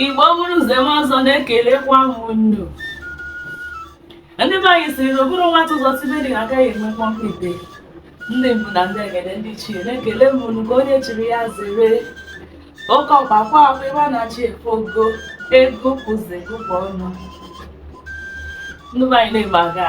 Igbo bụrụ nze ma ọzọ na-ekelekwa m unu ndị be anyị sịrị na o buru nwata ụzọ sibe nri na-aka ya enwe mkpọmkpọ ite ndị mbụ na ndị egede ndị ichie na-ekele m unu ka onye chiri ya zere oke ọkpa kwa akwa ebe a na-achị efe ogo ego kwụzi gụkwa ọnụ ndị be anyị na-eme aga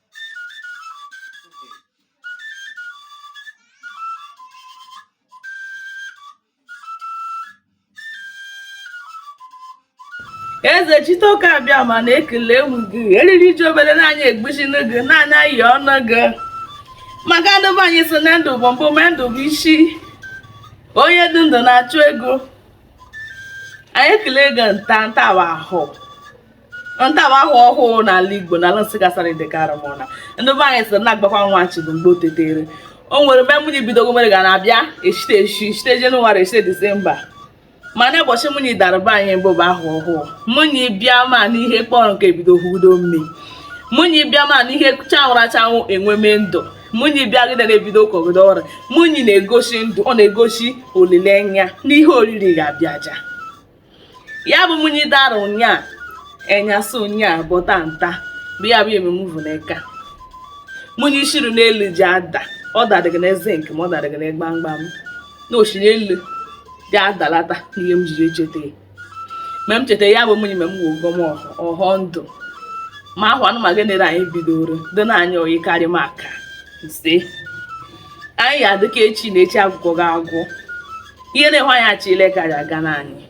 Ezechitoke Abịama na-ekele m gị eriri ji obere naanị egbuchi n'oge na anyị ayịọnụ gị maka ndị be anyị sị na ndụ bụ mbụ ma ndụ bụ isi onye dị ndụ na-achụ ego anyị ekele gị nta nta wụ ahọ nta wụ ahọ ọhụụ n'ala igbo n'ala Nsụka Asadụ Ideke Arụmọna ndị be anyị sịrị na-agbakwa nwa chi bụ mgbe o tetere o nwere mgbe munyi bidogo mere ga na-abịa echite echi echite jenụwarị echite disemba mana ụbọchị munyi dara be anyị mbụ bụ ahọ ọhụụ munyi bịa ma n'ihe kpọrọ nkụ ebido hudo mme munyi bịa ma n'ihe chanwụrụ achanwụ enweme ndụ munyi bịagide na-ebido kọgide ọrụ munyi na-egosi ndụ ọ na-egosi olileanya n'ihe oriri ga-abịa aja ya bụ munyi dara ụnyaa enyasị ụnyaa bọta nta bụ ya bụ emume bụ n'eka munyi shiri n'elu ji ada ọ dadịghị na zinc ma ọ dadịghị na gbamgbam na o shi n'elu ji adalata n'ihe m jiri echeta ya mgbe m cheta ya bụ munyi mgbe mụ gọọ ọhọ ndụ ma ahọ anụmanụ nere anyị bidoro dị na anyị oyi karịma aka ise anyị ya-adị ka echi na echi agwụkọghị agwụ ihe na-enwe anyị achọ ile ka aga n'anyị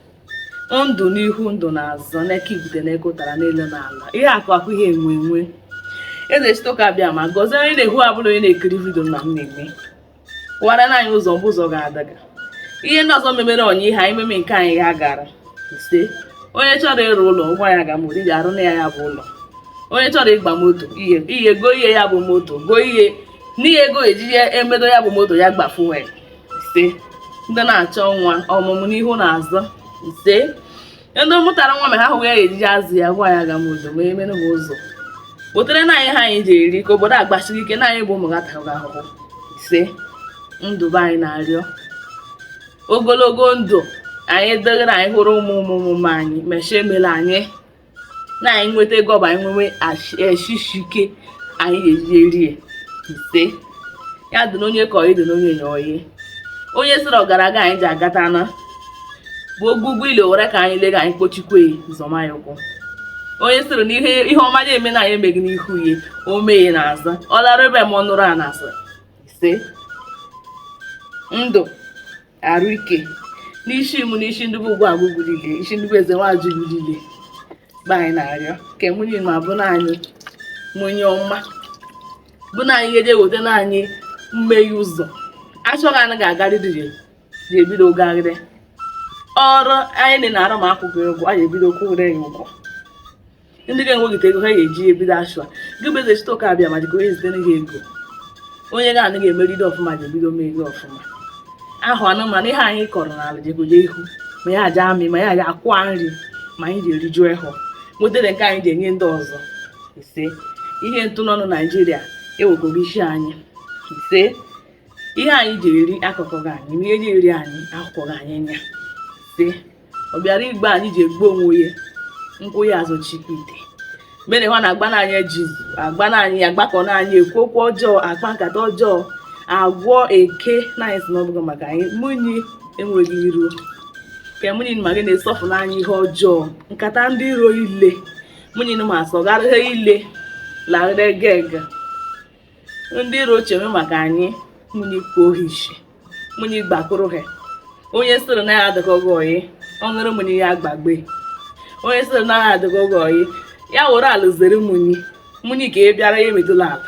ndụ n'ihu ndụ n'azụ n'eka ibute n'eka ụtara n'elu n'ala ihe akụ akụ ihe enwe enwe Ezechitoke Abịama gọzie onye na-ehu ọbụla onye na-ekiri vidio na m na-eme wara na anyị ụzọ mbụ ụzọ ga-adaga ihe ndị ọzọ memere onye ihe anyị meme nke anyị ha gara ise onye chọrọ ịrụ ụlọ ụgwọ ya ga mụrụ ga-arụ na ya ya bụ ụlọ onye chọrọ ịgba moto ihe ihe goo ihe ya bụ moto goo ihe n'ihe ego e je-eji emedo ya bụ moto ya gba fuel ise ndị na-achọ nwa ọmụmụ n'ihu na azụ ise ndị mụtara nwa ma ha hụghị ihe e je-eji azụ ya gwa ya ga m odo ma emere m ụzọ kpotere na anyị ihe anyị je-eri ka obodo a gbasiri ike na anyị bụ ụmụ gị ataga ahụhụ ise ndị be anyị na-arịọ ogologo ndụ anyị dịrị anyị hụrụ ụmụ ụmụ ụmụ anyị mechie emela anyị na anyị nweta ego ọba anyị nwewe eshi ishi ike anyị ga-eji erie ise ya dị n'onye ka ọyị dị n'onye nye ọyị onye sịrị ọgaraga anyị ji agata na bụ ogwugwu ile were ka anyị lega anyị kpochikwe zọmanya ụkwụ onye sịrị na ihe ọma ya eme na anyị emeghị n'ihu ya o meghe n'azụ ọ lara ebe ma ọ nụrụ a na ise ndụ arụ ike n'isi mụ n'isi ndị bụ ugwu agụgụ niile isi ndị bụ eze nwajụ niile be anyị na-arịọ ka munyi ma bụ na anyị munyi ọma bụ na anyị ga-eje weta na anyị mmeghe ụzọ achọghị anyị ga-agarịrị ga-ebido gagharị ọrụ anyị na-arụ ma akwụghị ụgwọ anyị ebido kwụgharị ya ụgwọ ndị ga-enweghịta ego ha ga-eji ebido ashụa gị bụ Ezechitoke Abịama jikọ onye zitere gị ego onye ga anaghị emeride ọfụma ji ebido mee ego ọfụma ahụ anụmanụ ihe anyị kọrọ n'ala jegoje ihu ma ya aja amị ma ya aja akwụa nri ma anyị ji eriju ehọ nwetara nke anyị ji enye ndị ọzọ ise ihe ntụ n'ọnụ naijiria ewekọghị isi anyị ise ihe anyị ji eri akọkọghị anyị ihe ji eri anyị ahụkọghị anyị anya ise ọ bịara igbu anyị ji egbu onwe onye nkwụ ya azụ chipite mere ha na-agba na anyị izu agba na anyị agbakọ na anyị ekwu okwu ọjọọ akpa nkata ọjọọ agwọ eke na anyị sị na ọ bụghị maka anyị munyi enweghị iro ka munyi ma gị na-esọfụ na anyị ihe ọjọọ nkata ndị iro ile munyi ma sọgharịa ile larịrị geg ndị iro chere maka anyị munyi kohishi munyi gbakụrụ ha onye sịrị na anyị adịkọghị oyi ọ ṅụrụ munyi ya gbagbe onye sịrị na anyị adịkọghị oyi ya were ala zere munyi munyi ka ị bịara ya emetụla ala